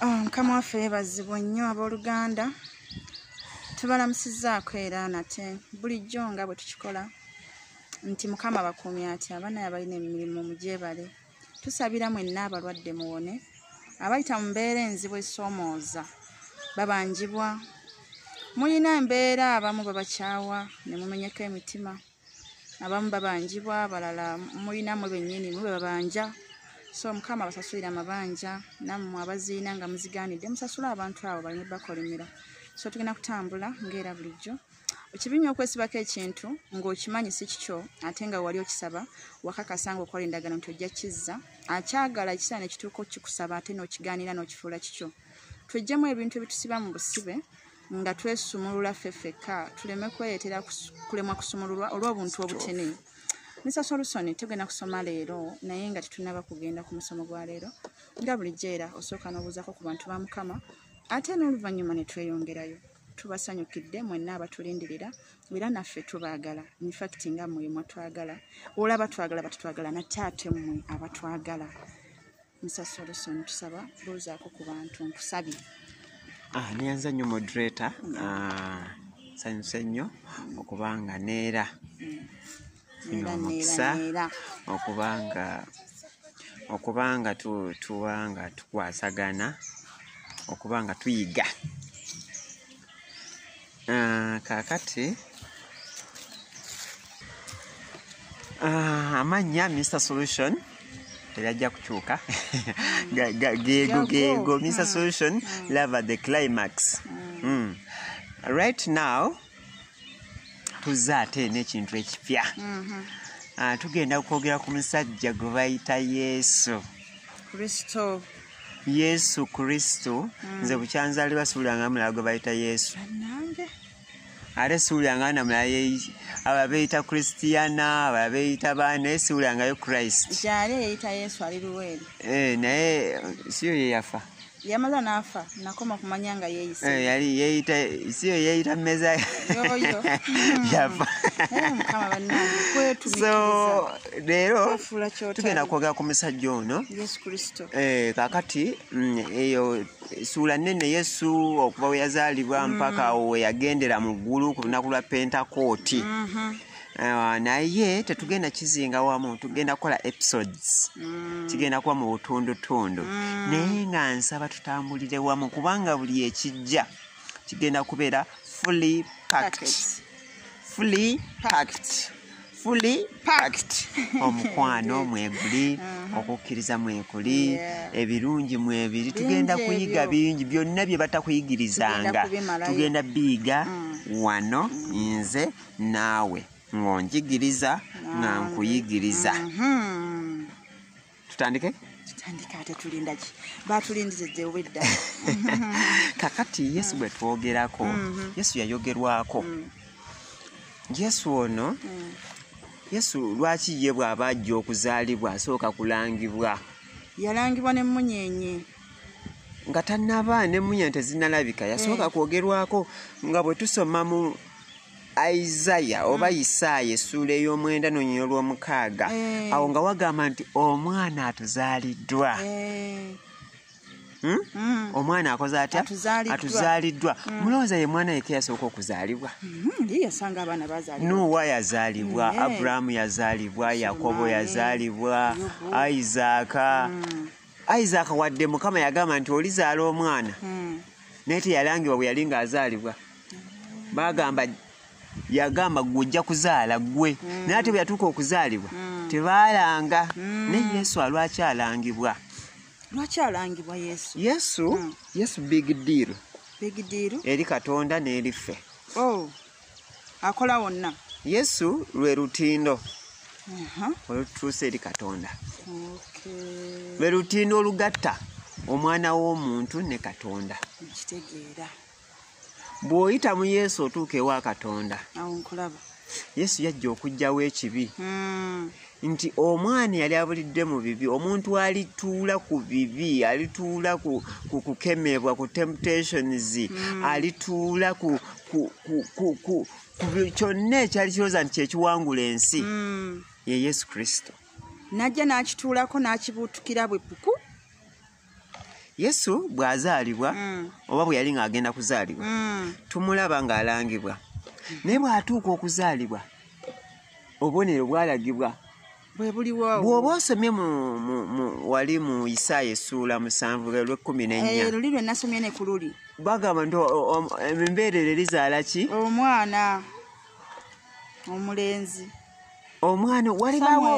Oh, mukama waffe yebazibwa nnyo abooluganda tubalamusizaako era nate bulijjo nga bwe tukikola nti mukama bakuumi ati abaana yabalina emirimu mugyebale tusabira mwenna abalwadde muwone abayita mu mbeera enzibu esoomooza babanjibwa mulina embeera abamu babakyawa ne mumenyeko emitima abamu babanjibwa abalala mulina mwe bennyini mwe bebabanja so mukama abasasulira amabanja nammwe abaziina nga muzigaanidde musasula abantu abo balina bakolimira so tugenda kutambula ngaera bulijjo ekibi nyo okwesibako ekintu ng'okimanyi si kikyo ate nga wali okisaba wakakasa nga okola endagano nti ojja kizza akyagala ekisaa nekituuka okikusaba ate n'okigaanira n'okifuula kikyo twejjemu ebintu ebitusiba mu busibe nga twesumulula ffe ffekka tuleme kwereetera kulemwa kusumululwa olw'obuntu obutene misa solusoni tugenda kusoma leero naye nga tetunaba kugenda ku musomo gwa leero nga bulijjo era osooka n'obuuzako ku bantu ba mukama ate n'oluvannyuma ne tweyongerayo tubasanyukidde mwenna abatulindirira era naffe tubaagala infacti nga mwe mwatwagala olaba twagala batutwagala nate ate mmwe abatwagala Mr. Solution tusaba buuzaako ku bantu nkusabye. Ah, neyanza nnyo moderator mm. ah, sanyuse nnyo okuba nga neera mm. omukisa okuba nga okuba nga tuba nga tukwasagana okuba nga tuyiga ah, kakati ah, amannya mr solution teyajja kukyuka geego geego mr mm. solution mm. lava the climax mm. mm. right now tuzze ate n'ekintu ekipya mm -hmm. Ah, tugenda kwogera ku musajja gwe bayita yesu kristo yesu kristo mm. nze bukyanzalibwa siwuliranga mulala gwe bayita yesu ate siwuliranga na mulala aba beyita kristiana aba beyita baa naye siwulirangayo christ eh, naye siyo yeyafa yamaza nafa nakoma kumanya nga yeyisa eh, yali yeyita siyo yeyita meza yoyo yafa eh, so leero tugenda kwogera ku musajja ono eh, kakati mm, eyo suula nene yesu okuva we yazaalibwa mm. mpaka awo weyagendera mu ggulu ku lunaku lwa pentakooti mm-hmm. eh, naye tetugenda kizinga wamu tugenda kukola episodes mm. kigenda kuba mu butundutundu mm. naye nga nsaba tutambulire wamu kubanga buli ekijja kigenda kubeera fully packed fully packed fully packed omukwano mweguli uh-huh. okukkiriza mwekuli ebirungi mwebiri tugenda kuyiga bingi byonna bye batakuyigirizanga tugenda biyiga mm. wano mm. nze naawe ng'onjigiriza nga nkuyigiriza mm-hmm. tutandike tutandike ate tulindaki batulindiridde obwedda kakati yesu bwe twogerako mm-hmm. yesu yayogerwako mm. yesu ono mm. yesu lwaki ye bw'aba ajja okuzaalibwa asooka kulangibwa yalangibwa n'emmunyeenye nga tannaba n'emmunyeenye tezinalabika yasooka eh. kwogerwako nga bwe tusoma mu isaya oba isaaya mm. essuula ey'omwenda nonyina olw'omukaaga eh. awo nga wagamba nti omwana atuzaaliddwa eh. hmm? mm. omwana akoze atya atuzaaliddwa mm. mulowooza ye mwana yeke yasooka okuzaalibwa mm-hmm. nuwa yazaalibwa aburahamu yazaalibwa yakobo yazaalibwa isaaka isaaka wadde mukama yagamba nti olizaala omwana naye teyalangibwa bwe yali ng'azaalibwa bagamba yagamba gwe ojja kuzaala gwe mm. naye ate bwe yatuuka okuzaalibwa mm. tebaalanga mm. naye yesu alwaki alangibwa lwaki alangibwa yesu yesu mm. yesu big deal big deal eri katonda n'eri ffe oh. akola wonna yesu lwe lutindo uh -huh. olututuusa eri katonda okay. lwe lutindo olugatta omwana w'omuntu ne katonda nkitegeera bw'oyita mu yesu otuuka ewa katonda yesu yajja okugjawo ekibi hmm. nti omwana yali abulidde mu bibi omuntu alituula ku bibi alituula ku kukemebwa ku temptations hmm. alituula ku kyonna ekyali kirooza nti kyekiwangula ensi hmm. ye yesu kristo najja n'akituulako n'akibuutukira bwe puku yesu bw'azaalibwa mm. oba bwe yali ng'agenda kuzaalibwa mm. tumulaba ng'alangibwa naye bw'atuuka okuzaalibwa obubonero bwalagibwa bwoba osomye wali mu isaaya esuula musanvu lwekkumi nennyaluli eh, lwenasomye ne ku luli bagamba nti embeerero erizaala ki omwana omulenzi omwana walibawo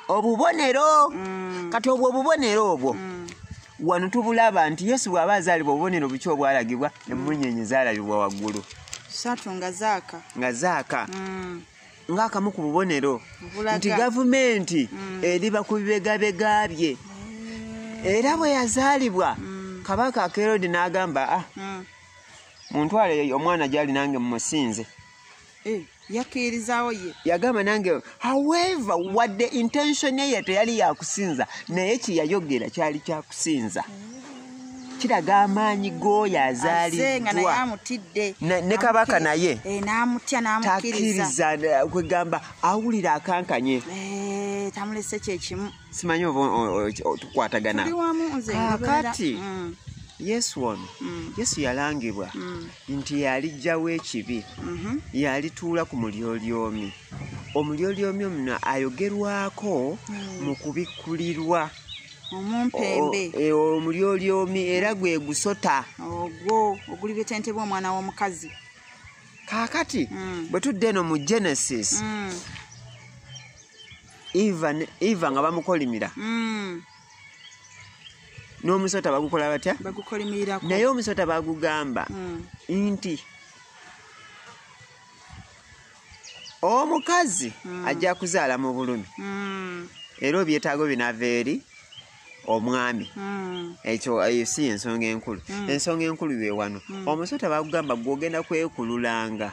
obubonero mm. kati obwo obubonero obwo mm. wano tubulaba nti yesu bw'aba azaalibwa obubonero buki obwalagibwa emunyenye zaalabibwa waggulu satu nga zaaka nga zaaka mm. ng'akamu ku bubonero nti gavumenti eriba ku bibegabega bye era bwe yazaalibwa kabaka akerodi n'agamba a ah, muntwale omwana gyali nange mumusinze eh, yakkirizawo ye yagamba nange however wadde intention ye teyali yakusinza naye kyeyayogera kyali kyakusinza mm. kiraga amaanyi g'oyo azaaliddwane kabaka naye eh, takiriza kwegamba awulira akankanye eh, tamulese kyekimu simanyi oba tukwatagana ah, kati mm. yesu ono mm. yesu yalangibwa mm. nti yalijjawo ekibi mm-hmm. yalituula ku mulyolyomi omulyolyomi omuno ayogerwako mm. mu kubikkulirwa omumpembe e, omulyolyomi era gwe gusota ogwo ogulibetentebwa omwana w'omukazi kaakati bwe tudde eno mu genesis eva ne- eva nga bamukolimira Mm, n'omusota bagukola batya bagukolimirirako naye omusota bagugamba Mm, nti omukazi ajja kuzaala mu bulumi mm, era obyetaago binaava eri omwami mm, ekyo eyo si yensonga enkulu ensonga enkulu ye wano omusota bagugamba gwogenda kwekululanga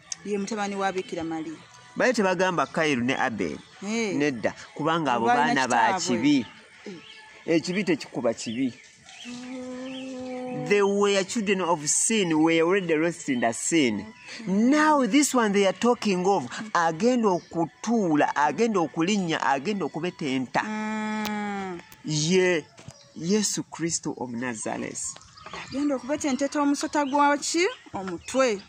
ye mutabani wa bikira maria baye tebagamba kairu ne abel hey. nedda kubanga abo baana ba kibi ekibi eh, tekikuba kibi they were children of sin were already lost in the sin now this one they are talking of agenda okutuula agenda okulinnya agenda okubetenta mm. ye yeah. yesu kristo omunazaresi agenda okubetenteta omusota gwaki omutwe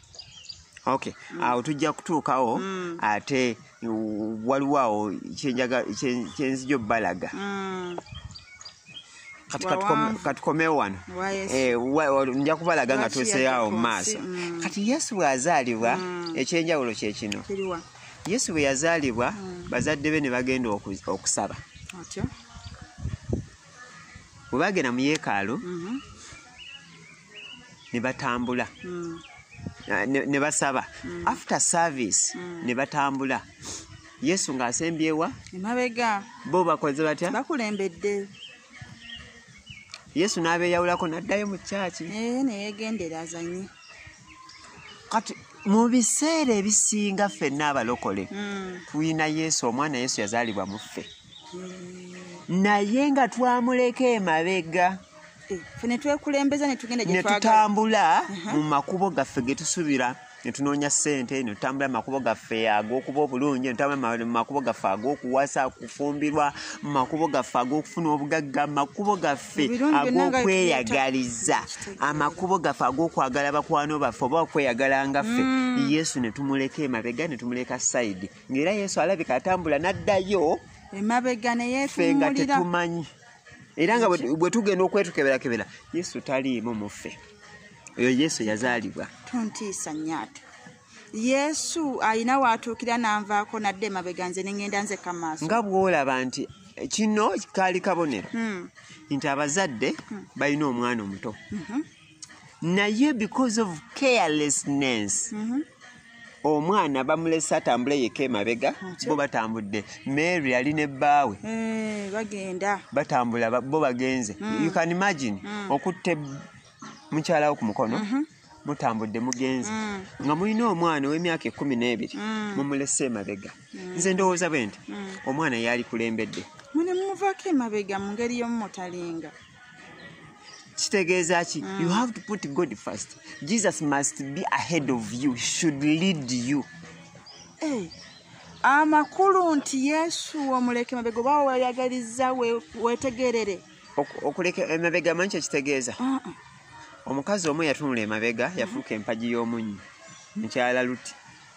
okay mm. awo tujja kutuukawo mm. ate waliwo awo kyenzija obbalaga mm. kati katukomewo wano eh, nja kubalaga nga tuseeawo mu maaso mm. kati yesu bw'azaalibwa mm. ekyenjawulo kye kino yesu bwe yazaalibwa mm. bazadde be ne bagenda okusaba bwe bagenda mu yeekaalu mhm. ne batambula mm. ah, ne basaba mm. after service mm. ne batambula yesu ng'asembyewa emabega bo bakoze batya bakulembedde yesu n'abeeyawulako n'addayo mu kyaki eh, neyegendera azanye kati mu biseera ebisinga ffenna abalokole tulina yesu omwana yesu yazaalibwa mu ffe naye nga twamuleka emabega eh, netwekulembeza netutambula uh-huh. mu makubo gaffe getusubira netunoonya sente netutambula makubo gaffe agokuba obulungi netutambula makubo gaffe agokuwasa kufumbirwa makubo gaffe agokufuna obugagga makubo gaffe agokweyagaliza amakubo gaffe agokwagala bakwano baffe oba okweyagala ngaffe mm. yesu netumuleka emabega netumuleka saidi ng'era yesu alabika atambula n'addayo emabega neyefe nga tetumanyi era nga bwe tugenda okwetukeberakebera yesu taliimu muffe oyo yesu yazaalibwa tontiisa nyaato yesu alina waatuukira nanvaako nadde emabega nze nengenda nze kamaaso nga bwolaba nti kino kaali kabonero hmm. nti abazadde hmm. balina omwana omuto mhm. naye because of carelessness mm -hmm. omwana bamulese atambule yeka emabega bo batambudde mary yali ne bbaawe eh, bagenda batambula bo bagenze mm. you can imagine mm. okutte mukyala wo ku mukono mm -hmm. mutambudde mugenze mm. nga mulina omwana ow'emyaka ekkumi n'ebiri mm. mumulese emabega mm. nze ndowooza bwe nti omwana yaali kulembedde mune mumuvako emabega mu ngeri y'omumutalinga kitegeeza ki mm. you have to put god first jesus must be ahead of you should lead you hey. Eh, amakulu nti yesu omuleke mabega oba weyagaliza wetegerere okuleka emabega manyi kyekitegeeza uh-uh. omukazi omu yatunula emabega yafuuka empagi y'omunyi mukyala luti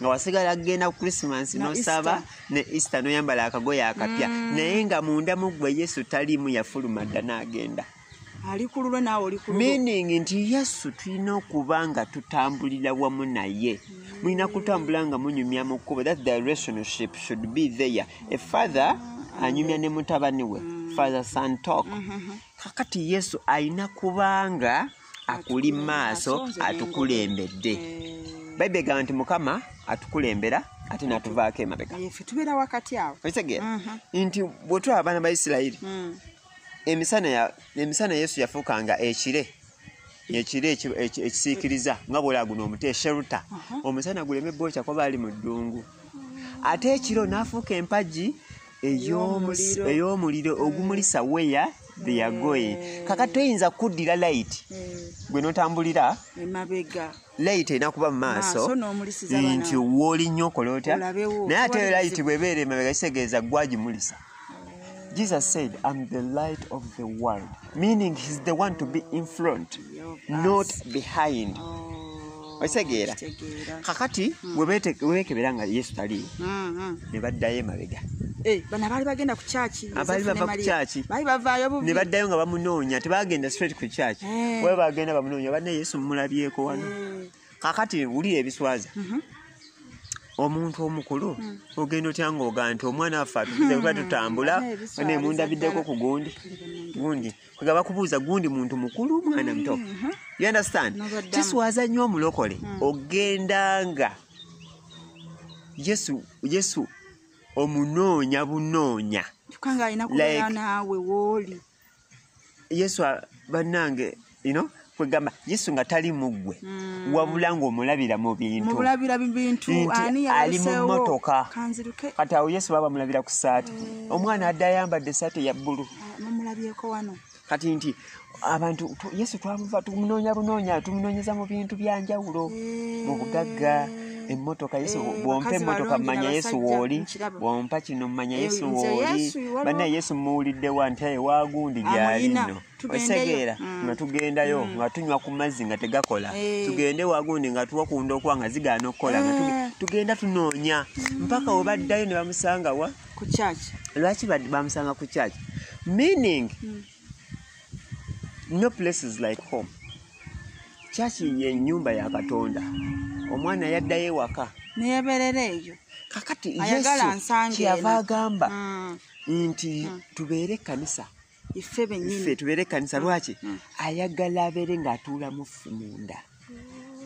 nga wasigala kugenda ku christmas nosaba ne easter noyambala akagoye akapya mm. naye nga munda mugwe yesu talimu yafuluma dda nagenda meaning nti yesu tulina okuba nga tutambulira wamu naye mm. mulina kutambula nga munyumya mu kkubo that the relationship should be there a father anyumya ne mutabani we mm. father son talk mm-hmm. kakati yesu alina kubanga akuli maaso atukulembedde eh. bayibuli egamba nti mukama atukulembera ate natuvaako emabega tubeera wakati awo okitegeera mhm. nti bwetulaba abaana ba isirayiri mm. emisana yesu yafuukanga ekire ekire ekisiikiriza nga bwolaba guno omuti esheruta uh-huh. omusana guleme bwokya kuba ali mu ddungu ate ekiro n'afuuka empagi ey'omuliro mm. ogumulisa weya theyagoye mm. kaka toyinza kuddira light mm. gwe notambulira light erina kuba mu maaso nti wooli nnyo okola otya naye ate light bwebeera emabega kitegeeza gwagimulisa Jesus said, I'm the light of the world, meaning he's the one to be in front, not behind. Oh. Oh, okitegeera kakati hmm. webekebera nga yesu taliiwo hmm, hmm. ne baddayo emabega eh, bana baali bagenda ku kyaki abaali bava ku kyaki baali bavaayo bubi ne baddayo nga bamunoonya tebagenda straight ku kyaki eh. waba bagenda bamunoonya banna yesu mumulabyeko wano eh. kakati wulira ebiswaza mhm. omuntu omukulu ogenda otya ngaoga nti omwana waffe atuze kuba tutambula nemundabideko ku gundi gundi nga bakubuuza gundi muntu mukulu mwana muto mm-hmm. you understand kiswaza nnyo omulokole mm. ogenda nga yesu yesu omunoonya bunoonya yesu bannange you know kwegamba yesu nga tali muggwe mm. wabula ngaomulabira mu bintuali mu motoka kati awo yesu baba mulabira ku saati eh. omwana adde ayambadde saati ya bbulu ah, kati nti abantu yesu twamuva tumunoonya bunoonya tumunoonyeza mu bintu byanjawulo eh. mu bugagga emotoka yesu eh, bwompa emotoka mumanya yesu wooli bwompa kino mumanya yesu wooli banna yesu muwuliddewa nti aye wagundi gyalinno osegeera mm. nga tugendayo mm. nga tunywa ku mazzi nga tegakola eh. tugende wagundi nga tuwa kunda okuwa nga zigaana okukola nga eh. tugenda tunoonya mm. mpaka webaddayo ne bamusanga wa lwaki bamusanga ku church meaning no places like home church ye nyumba ya katonda omwana yaddayo ewaka neyaberera eyo kakati yesu kyeyava agamba nti tubeere ekkanisa ife benyini ife tubere kanisa lwaki mm. ayagala abere nga atula mufu munda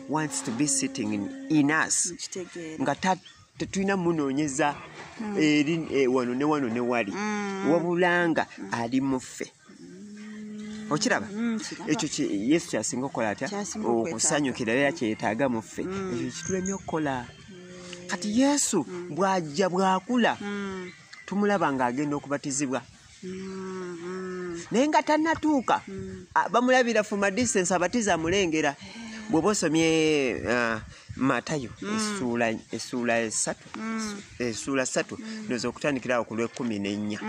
wants to be sitting in, in us nga tetulina munonyeza mm. eri eh, wano ne wano ne wali mm. wabulanga mm. ali mufe mm. okiraba mm, ekyo yesu kyasinga okukola atya okusanyukira era kyetaaga muffe mm. ekyo kitulemye okukola mm. kati yesu mm. bwajja bwakula mm. tumulaba ng'agenda okubatizibwa mm-hmm. naye nga tanatuuka mm. bamulabira fuma distance abatiza amulengera bwoba osomye uh, matayo mm. esuula esatu mm. esuula satu noza okutandikirawo ku lwekumi nenya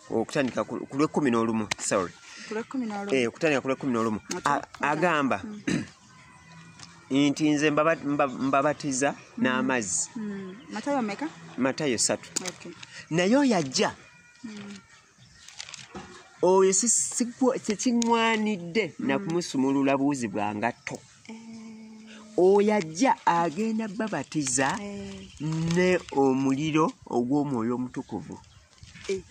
okutandika ku lwekumi nolumu sorry okutandika ku lwekumi nolumu eh, agamba nti nze mbabatiza n'amazzi hmm. matayo satu naye oyo ajja hmm. oyo kyekiŋwanidde hmm. nakumusumulula buuzi bwa ngatto eh. oyo ajja agenda babatiza eh. ne omuliro ogw'omwoyo omutukuvu eh,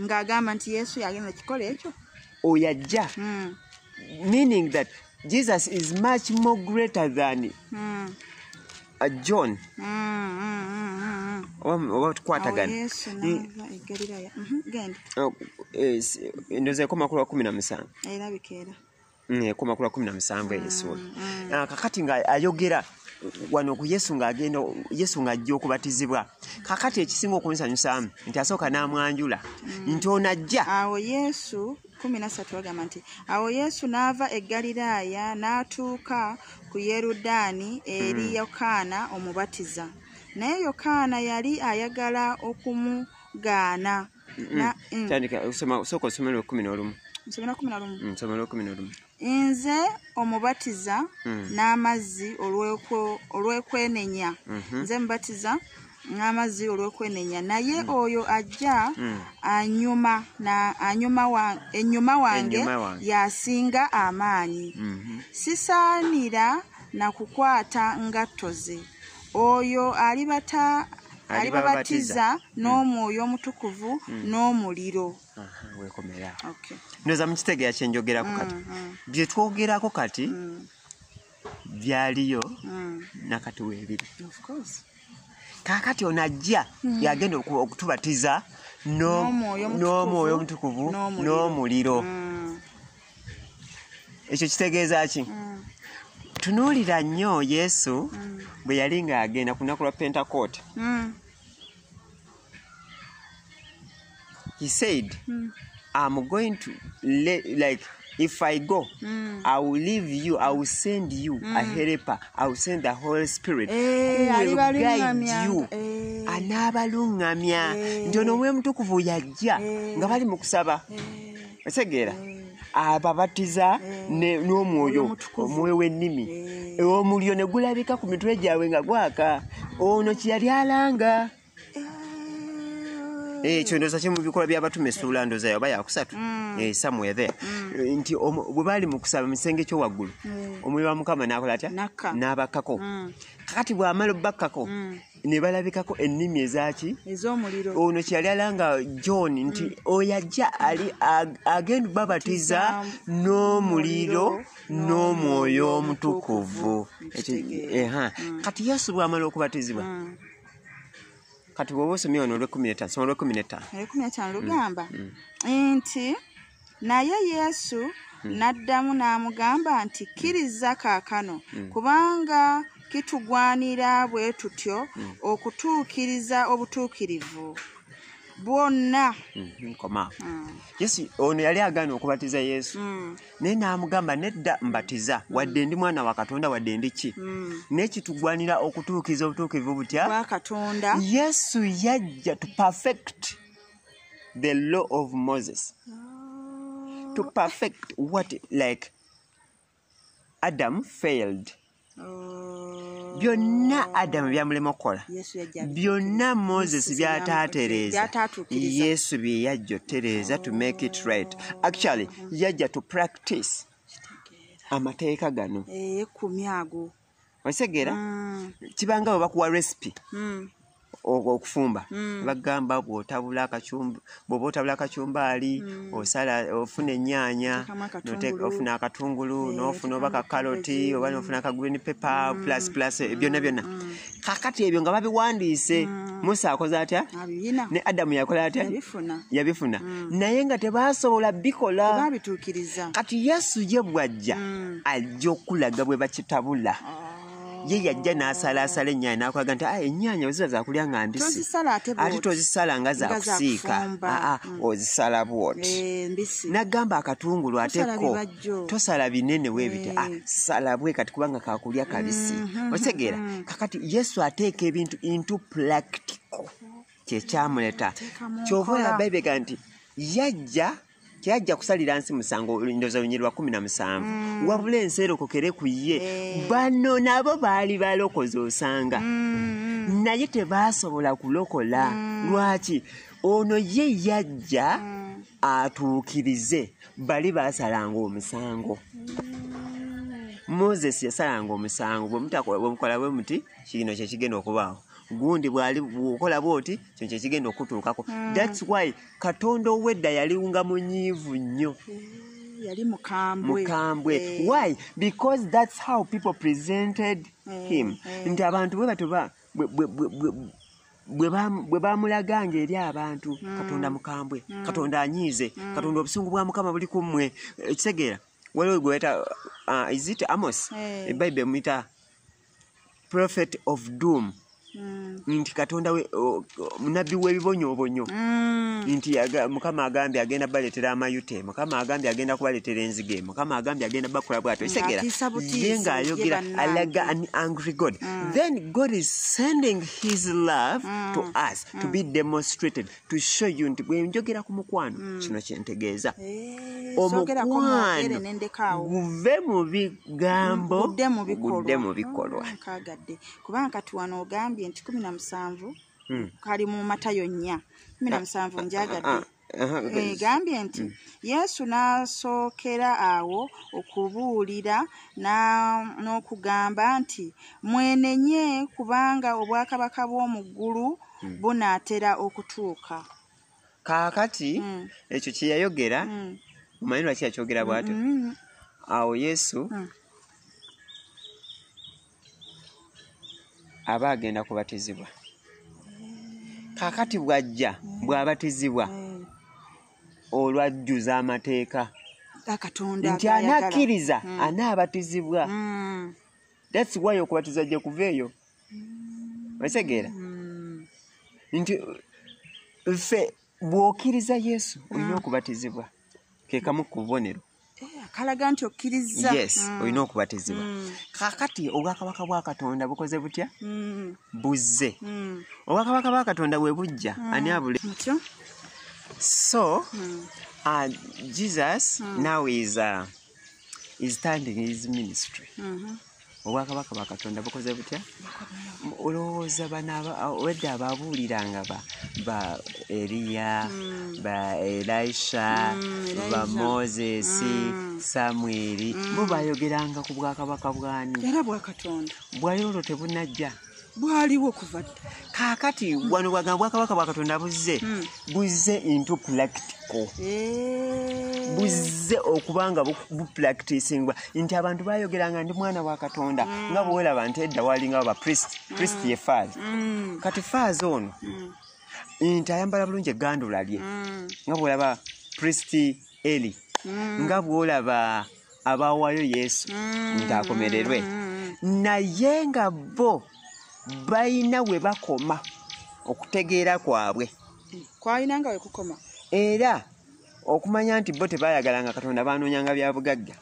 ng'agamba nti yesu yagenda kikola ekyo oyo ajja hmm. meaning that jesus is much more greater than hmm. uh, john hmm, oba tukwatagana oh, mhm, eh, ndoza ekoma kulwa kumi na musanvu mm, ekoma kula kumi na musanvu eyesuula mm. ah, kakati nga ayogera wano ku yesu ng'agenda yesu ng'ajja okubatizibwa kakati ekisinga okunsanyusaamu nti asooka n'amwanjula mm. nti onajja awo yesu kumi nasatu agamba nti awo yesu n'ava e ggaliraaya n'atuuka ku yerudaani eri hmm. yokaana omubatiza naye yokaana yali ayagala okumugaana nze omubatiza mm. n'amazzi olw'ekwenenya mhm. nze mubatiza n'amazzi olw'okwenenya naye mm. oyo ajja mm. enyuma wange yasinga amaanyi mm-hmm. sisaanira na kukwata ngatto ze oyo alibata alibabatiza mm. n'omwoyo omutukuvu mm. n'omuliro wekomera ndoza mukitegeera kyenjogerako mm, kati byetwogerako kati byaliyo nakati webiri kakati ono ajja yagenda okutubatiza n'omwoyo omutukuvu n'omuliro ekyo kitegeeza ki mm. tunuulira nnyo yesu mm. bwe yali ng'agenda ku lunaku lwa pentakoote mm. he said mm. i'm going to let, like if i go mm. i will leave you i will send you mm. a helper i will send the holy spirit hey, eh, who will guide you hey. Eh. anaabaluŋŋamya hey. Eh. nti ono omwoyo omutukuvu yajja hey. nga bali mu kusaba hey. otegeera ababatiza ne- n'omwoyo omwoyo w'ennimi omuliro ne gulabika ku mitwe gyabwe nga gwaka ono kyeyali alanga Eh, ekyo ndooza kye mu bikolwa by'abatume essuula ndooza yoba yakusatu Eh, somewhere there Eh, nti omu- bwe baali mu kusaba mu kisenge kyo waggulu omwoyo wa mukama n'akola atya N'akka. n'abakkako kakati bw'amala obbakkako ne balabikako ennimi ezaki ez'omuliro ono kyeyali alanga john nti mm. oyo ajja ali agenda babatiza n'omuliro n'omwoyo omutukuvu mm. kati yesu bwamala okubatizibwa mm. kati bwoba osomye ono olwekumi netaano soma olwekumi netaano lugamba nti Naye Yesu hmm. n'addamu n'amugamba nti, Kkiriza kaakano, hmm. kubanga kitugwanira bwe tutyo hmm. okutuukiriza obutuukirivu bwonna. Nkoma. Yesu ono yali agaana okubatiza Yesu, naye n'amugamba nedda mbatiza, wadde ndi mwana wa Katonda, wadde ndi ki? Naye kitugwanira okutuukiriza obutuukirivu butya? Bwa Katonda. Yesu yajja to perfect. the law of moses oh. to perfect what like adam failed oh. byonna adamu byamulema okukola byonna moses byataatereeza yesu bye yajja otereeza to make it right actually yajja to practice amateeka gano eyekkumi eh, ago okitegeera mm. kibanga webakuwa recipe mm. okufumba mm. bagamba bwotabula akacumba bwoba otabula akacumbaali mm. osala ofuna enyaanya ofuna akatungulu eh, nofuna oba kakaloti oba nofuna aka green paper mm. plus plus eh, byonna mm. byonna mm. kakati ebyo nga babiwandiise mm. musa akoze atya ne adamu yakola atya yabifuna mm. naye nga tebasobola bikola kati yesu ye bwajja mm. ajja okulaga bwe bakitabula ye yajja n'asalaasala ennyaanya n'akulaga nti ah, ennyaanya weziba zakulya nga mbisi ate tozisala nga zakusiika aa ah, ah, mm. ozisala bwoti eh, nagamba akatungulu ate ko tosala binene webiti eh. salabwe kati kubanga kakulya kabisi mm-hmm. otegeera mm-hmm. kakati yesu ateeka ebintu into practical kyekyamuleta kyova olaba ebega nti yajja teyajja kusalira nsi musango ndoza lunyiri lwa kumi na musanvu mm. wabula ensi erokokere ku ye eh. bano nabo baali balokozi osanga mm. naye tebaasobola kulokola mm. lwaki ono ye yajja atuukirize bali basalanga omusango moses yasalanga omusango bwemukola bwe muti kino kyekigenda okubaawo gundi bwali bwokola bwoti kino kyekigenda okutuukako thats why katonda owedda yaliunga munyiivu nnyo mm, yali mukambwe mukambwe eh. why because that's how people presented eh, him eh. nti abantu bwe batoba bwe bamulaganga eri abantu mm. katonda mukambwe mm. katonda anyiize katonda obusungu bwa mukama buli ku mmwe ekitegeera waliwo gwebayita uh, is it amos ebayibuli emuyita prophet of doom mm. nti katonda munabbi w'ebibonyobonyo mm. nti mukama agambye agenda baleetera amayute mukama agambye agenda kubaleetera enzige mukama agambye agenda bakola bwato ekitegeera ye ng'ayogera alaga an angry god mm. then god is sending his love to us to be demonstrated to show you nti bwe njogera ku mukwano mm. kino kye ntegeeza eh, omukwano guve mu bigambo gudde mu bikolwa mm, kagadde kubanga kati wano ogambye nti kumi na musanvu mm. kali mu matayo nnya kumi na ah, musanvu ah, njagadde ah, egambye eh, nti mm. yesu n'asookera awo okubuulira n'okugamba nti mwenenye kubanga obwakabaka bw'omu ggulu mm. bunaatera okutuuka kaakati mm. ekyo kye yayogera mm. omanyi lwaki yakyogera bwatyo mm -hmm. awo yesu mm. aba agenda kubatizibwa kaakati bw'ajja mm. bw'abatizibwa mm. olwajjuza amateeka nti anakkiriza mm. anaabatizibwa mm. that's why okubatiza gye kuva eyo otegeera mm. nti ffe bw'okkiriza yesu olina mm. okubatizibwa kekamu ku bubonero eh, kalaga nti okkiriza yes mm. olina okubatizibwa kakati obwakabaka bwa katonda bukoze butya buzze obwakabaka bwa katonda bwe bujja ani abule so uh, jesus now is, uh, is standing his ministry mm -hmm. obwakabaka bwa katonda bukoze butya olowooza bano wedde ababuuliranga ba ba eriya mm. ba elisha mm, ba moses mm. samweri bo bayogeranga ku bwakabaka bwani bwayo olwo tebunajja bwaliwo kuva kakati wano bwagamba bwakabaka bwa katonda buzze hmm. buzze into practical eh. buzze okuba nga bupracticingwa nti abantu bayogeranga ndi mwana wa katonda hmm. nga bwewelaba nti edda walinga ba priest hmm. priest ye faazi kati faazi ono nti ayambala bulungi egandula lye nga bwolaba priest eli nga bwolaba abawaayo yesu mm. ng'akomererwe naye nga bo balina we bakoma okutegeera kwabwe kwalina nga wekukoma era okumanya nti bo tebayagala nga katonda banoonyanga bya bugagga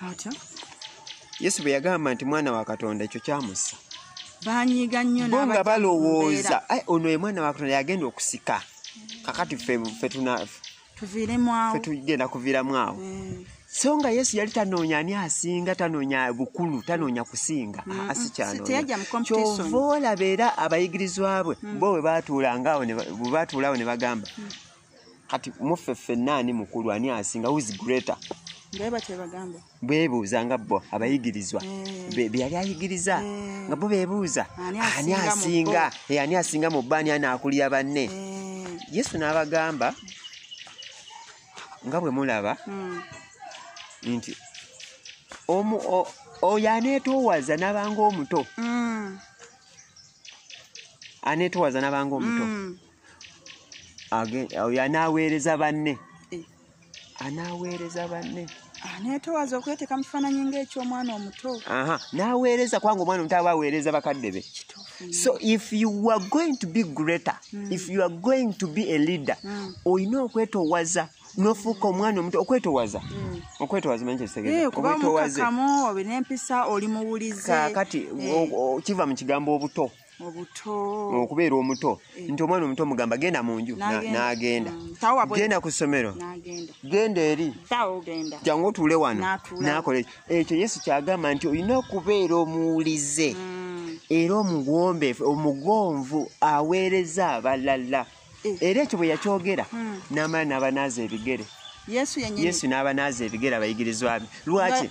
yesu bwe yagamba nti mwana wa katonda ekyo kyamussa banyiga nnyo bo nga balowooza ono ye mwana wa katonda yagenda okusika kakati fe tunaafe fe tugenda kuviramu awo eh. so nga yesu yali tanoonya ani asinga tanoonya bukulu tanoonya kusinga asikyanonyakyova olaba era abayigirizwa bwe mm. bo webatuulangaawo bwebatuulawo ne bagamba mm. kati muffe ffenna ani mukulu ani asinga whois greater bebuuza nga bo abayigirizwa eh. byeyali ayigiriza eh. nga bo bebuuza ani asinga eh, ani asinga mu bba ani anaakulira banne yesu n'abagamba nga bwe mulaba hmm. nti omu oyo aneetoowaza n'abanga omuto hmm. aneetoowaza n'abanga omuto hmm. oyo anaaweereza banne eh. anaaweereza banne ah, netowaza okweteeka mu kifaananyi ngaekyomwana omuto n'aweereza kubanga omwana omuto aba aweereza bakadde be so if you are going to be greater mm. if you are going to be a leader mm. olina okwetowaza nofuuka omwana omuto okwetowaza mm. okwetowaza manyi kyekitegeezaokwetowaza eh, olina empisa oli muwulize kakati eh. kiva mu kigambo obuto okubeera omuto eh. nti omwana omuto mugamba genda mu nju n'agenda mm. genda ku ssomero genda eri jangu otuule wano n'akola ekyo ekyo yesu kyagamba nti olina okubeera omuwulize mm. era omuwombeefu omugonvu aweereza abalala eh. era ekyo bwe yakyogera mm. n'amala n'abanaaza ebigere yesu n'abanaaza ebigere abayigirizwa be lwaki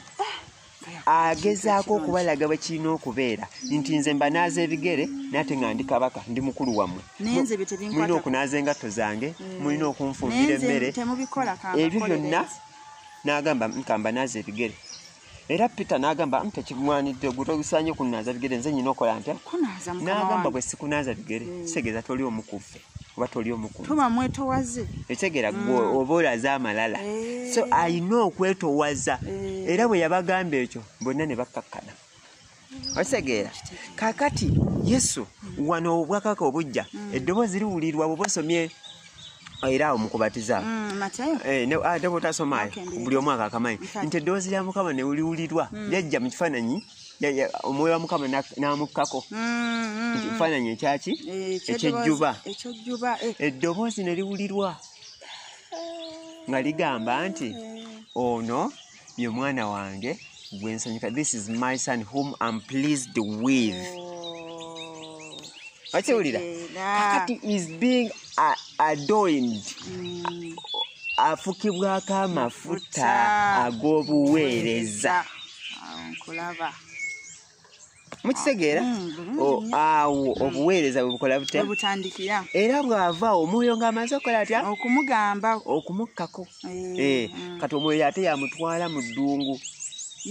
agezaako okubalaga bwe kirina okubeera nti nze mba naaza ebigere nate nga ndi kabaka ndi mukulu wammwe mulina okunaaza engatto zange mm. mulina okunfumbira emmere ebyo byonna n'agamba nkamba naaza ebigere era peter n'agamba tekimwanidde ogwo togusaanye kunaaza bigere nze nyina okola ntya n'agamba bwe sikunaaza bigere mm. kitegeeza toli omukuffe oba toli omukuntuba mwetowaze ekitegeera gwe mm. oba olaze amalala eh. so alina okwetowaza eh. era bwe yabagamba ekyo bonna ne bakkakkana okitegeera kakati yesu wano obwakaka obujja mm. eddoboozi riwulirwa bwe bosomye era awo mukubatiza mm, eh, ah, ate bwotasomayo buli omwaka akamanyi nti eddoboozi lya mukama newuliwulirwa lyajja mu kifaananyi omwoyo wa mukama n'amukkako mm, mm, mm. ekifaananyi ekyaki eh, ekyejjuba eh. eddoboozi ne liwulirwa nga ligamba nti eh. ono ye mwana wange gwe nsanyuka this is my son whom am pleased with oh. okiwulira kakati is being adoined mm. afukibwako amafuta ag'obuweereza nkulaba mukitegeera mm, oh, awo mm. obuweereza bwebukola butebutandikira era bwava omwoyo ng'amaze okukola atya okumugamba okumukkako eh, eh, mm. kati omwoyo ate yamutwala mu ddungu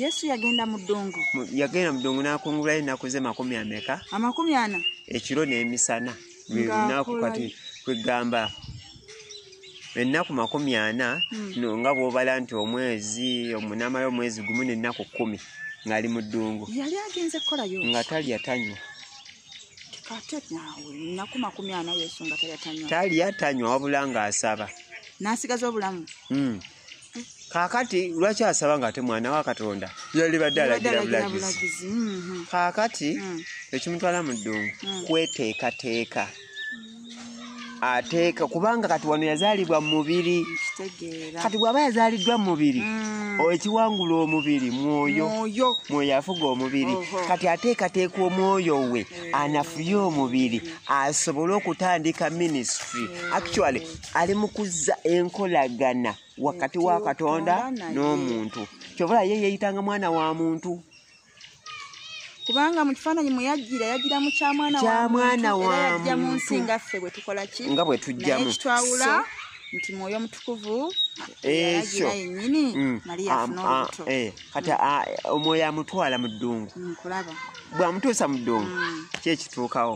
yesu yagenda mu ddungu yagenda mu ddungu n'akungulayo ennaku ze makumi ameka amakumi ana ekiro n'emisana lwelunaku kati kwegamba ennaku makumi ana hmm. no nga bwobala nti omwezi omunamala omwezi gumu nennaku kumi ngaali mu ddungu yali agenze kukolayo nga talya tanywa talya tanywa wabula ngaasaba nasigaza obulamu hmm. kakati lwaki asaba nga ate mwana wa katonda yalibadde alagira bulagizi mhm. kakati mm. ekimutwala mu ddungu mm. kweteekateeka ateeka kubanga kati wano yazaalibwa mu mubiri kati bw'aba yazaaliddwa mu mubiri mm. ekiwangula omubiri mwoyo mwoyo afuga omubiri kati ateekateeka omwoyo we anafuye omubiri asobole okutandika minisitry actually ali mu kuzza enkolagana wakati wa katonda n'omuntu kyobala ye yeyitanga mwana wa muntu kubanga mu kifaananyi mwe yajjira yajjira mu kyamwana kyamwana wayajja mu nsi nga ffe bwe tukola ki nga bwe tujjamu kitwawula nti mwoyo omutukuvu ekyo yennyini mm. mariya afuna olubuto eh, kati mm. omwoyo amutwala mu ddungu mm, kulaba bw'amutuusa mu ddungu kyekituukawo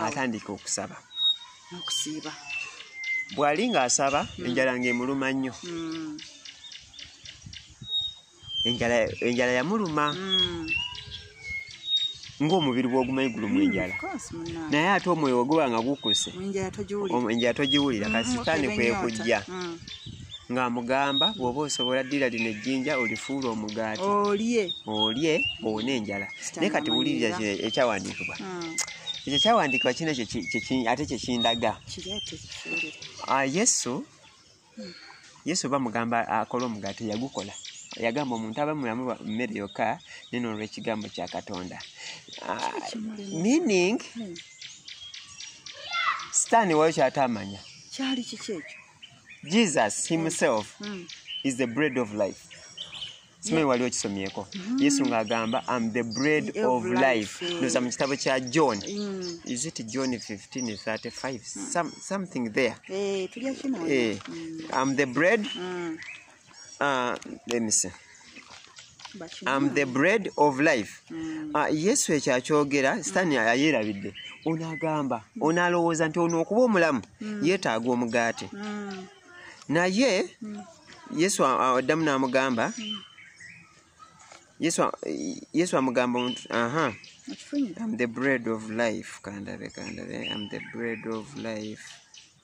atandika okusaba n'okusiiba bw'ali ng'asaba mm. enjala ng'emuluma nnyo mm. enjala yamuluma mm. ng'omubiri gw'ogumanyi gulumu enjala naye ate omwoyo weguba nga gukuse enjala togiwulira kasitaani kwekujja ng'amugamba bw'oba osobola ddira lino ejjinja olifuula omugaati olye olye owone enjala naye kati wulirira ekyawandiikibwa hmm. ekyo kyawandiikibwa kino ate kyekindaga ah, yesu hmm. yesu bamugamba akola omugaati yagukola yagamba omuntu aba mulamu mmere yokka neno olw'ekigambo kya katonda ah, meaning hmm. sitaani wayo kyataamanya kyali kiki ekyo jesus himself mm. is the bread of life simanyi wali okisomyeko mm. yesu ng'agamba am the bread of life eh. noza mu kitabo kya john mm. is it john 1535 something there eh, am the bread Uh, let me see. am the bread of life mm. uh, yesu ekyo akyogera sitaani mm. ayerabidde ono agamba mm. ono alowooza nti ono okuba omulamu mm. yeetaaga omugaate mm. naye mm. yesu addamu n'amugamba mm. yesu, yesu amugamba omuntu aha am the bread of life kandabe kandabe am the bread of life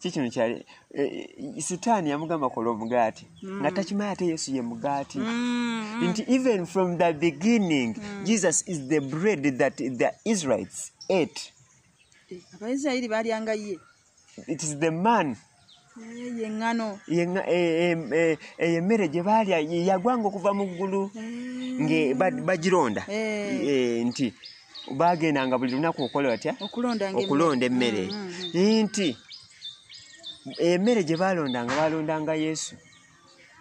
kikino kyali e, e, sitaani yamugamba kola omugaati mm. nga takimanyi ate yesu ye mugaati mm, mm. nti even from the beginning mm. jesus is the bread that the israelites ate eh, abaisirairi balyanga ye it is the man yeŋŋano eyo emmere gye baalya yagwanga okuva mu ggulu nga bagironda nti bagendanga buli lunaku okola batya okulonda emmere mm, mm, mm. nti emmere gye balondanga balondanga yesu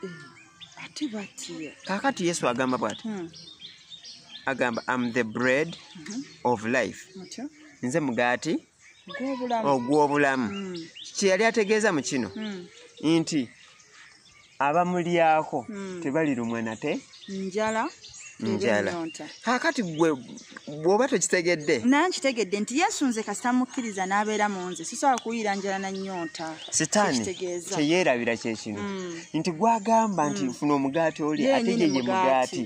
eh, kakati yesu agamba bwati hmm. agamba am the bread mm-hmm. of life nze mugaati ogw'obulamu hmm. kyeyali ategeeza mu kino hmm. nti abamulyako hmm. tebalirumwa nate njala njala kakati gwe bwoba tokitegedde naye nkitegedde nti yesu nze kasita mukkiriza n'abeera mu nze sisobola kuwulira njala na nnyonta sitaani teyeerabira kyekino hmm. nti gwagamba nti hmm. funa omugaati oli ate ye ye mugaati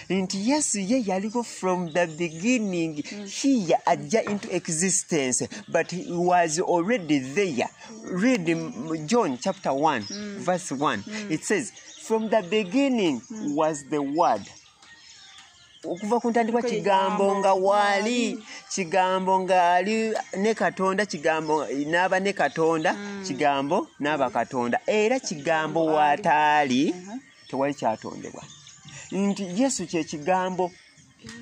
nti yesu ye yaliko from the beginning hiya ajja into existence but he was already there read John chapter 1, mm. verse 1. Mm. It says, From the beginning mm. was the word. okuva ku ntandikwa kigambo nga waali kigambo ngaali ne katonda kigambo n'aba ne katonda mm. kigambo n'aba katonda era kigambo waataali uh-huh. tewali kyatondebwa nti yesu kyekigambo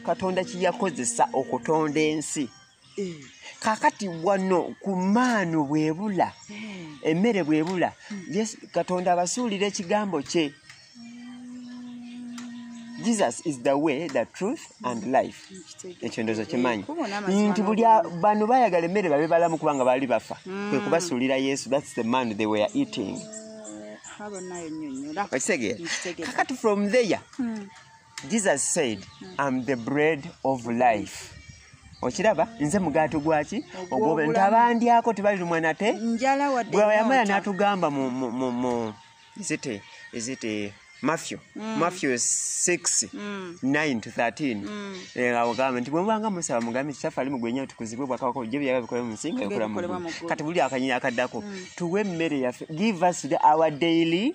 katonda kyeyakozesa okutonda ensi Eh. kakati wano ku maanu bwebula eh. emmere bwebula hmm. katonda abasuulira ekigambo kye jesus is the way the truth and hmm. life ekyo ndozo eh, kimanyi nti buli bano bayagala emmere babe balamu kubanga baali bafa hmm. kwe kubasuulira yesu thats the man they were eating kakati from there jesus said am the bread of life okiraba nze mugaati gwaki ogwobnti abandyako tebalirumwa nate bweyamala natugamba mu zite ezite mafyo mm. mafyo 6 mm. 9 to 13 mm. eh, awo gamba nti bwemubanga musaba mugambe kitafe ali mugwenye tukuzibwe bwakabako je byaga bikole mu nsinga ekula mu kati buli akanyina akaddako mm. tuwe mmere yaffe give us the, our daily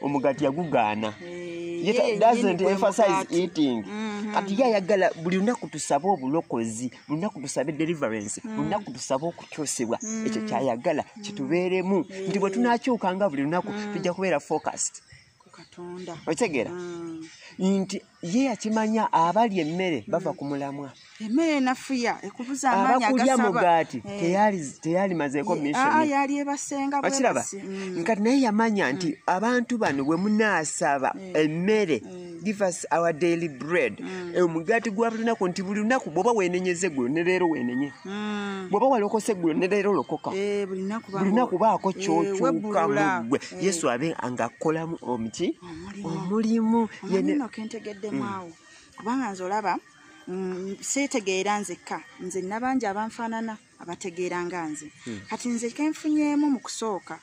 omugati yagugaana mm-hmm. kati ye ayagala buli lunaku tusabe obulokozi lunaku tusabe deliverance mm. lunaku tusabe okukyusibwa mm. ekyo kyayagala kitubeeremu nti bwe tunakyukanga buli lunaku mm. tujja kubeera focused otegeera nti ye yakimanya abalya emmere bava ku mulamwa emmere enafuya ekubuza amaanyi abakulya mugaati eh. teyalimazeeko missionkiraba ah, mm. nkati naye yamanya nti mm. abantu bano bwe munaasaba mm. emmere give us our daily bread e, omugaati gwa buli lunaku nti buli lunaku bwoba wenenyeza eggulo ne leero wenenye bwoba walokose eggulo ne leero lokoka eh, buli lunaku baako eh, kyokyuka mu ggwe yesu abe ng'akolamu omuki omulimu yenno kentegeddemu mm. awo kubanga nze olaba mm, seetegeera nzekka nze nabangi abanfaanana abategeera nga nze mm. kati nze kenfunyeemu mu kusooka